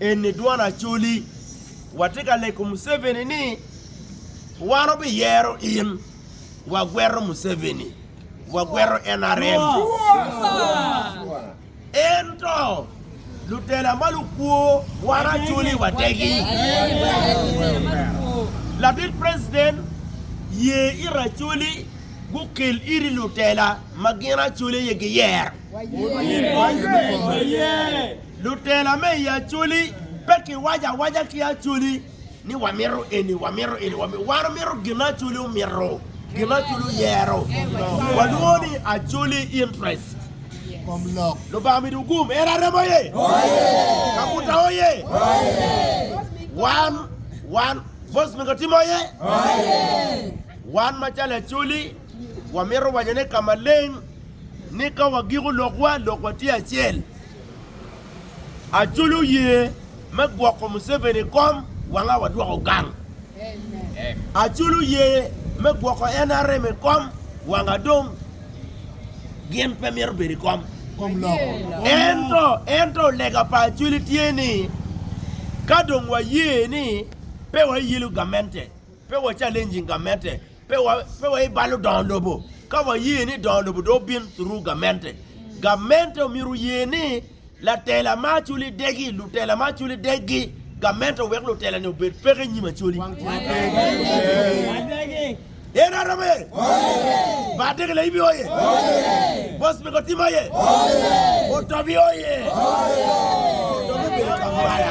Eni dwon Acholi. Watye ka leko Museveni ni wan wabiyero in. Wagwero Museveni. Wagwero NRM. Ento lutela ma lukwo wan Acholi wategi. Latit President, ye ira Acholi gukel iri lutela ma gin Acholi aye giyer. Lutela me i Acholi pe kiwaco awaca ki Acholi ni wamito eni, wamito eni, wamito. Wan wamito gin Acholi omito, gin Acholi oyero. Walwongo ni Acholi interest. Lubanga omido gum. En arem oye. Kabuta oye. Wan, wan, Bos Mingo Tim oye. Wan macalo Acholi, wamito wanyone ka maleng ni ka wagiko lokwa, lokwa tye acel. Aculo yee me gwoko Museveni i kom wanga wadwoko gang. Aculo yee me gwoko nrm i kom wanga dong gin pe mito bedo i kom. Ento, ento lega pa Acwili tye ni ka dong waye ni pe wayelo gamente, pe wa challenging gamente, Pe wabalo dongo lobo ka waye ni dongo lobo dong obin thuru gamente. Gamente omyero oye ni latela ma acoli degi, lutela ma acoli deggi, gamente owek lutela ni obed peke inyim acoli. Yen aromo ye? Bar degi laibi oye? Bos mego tim oye? Otobi oye? Otobi obedo kambala.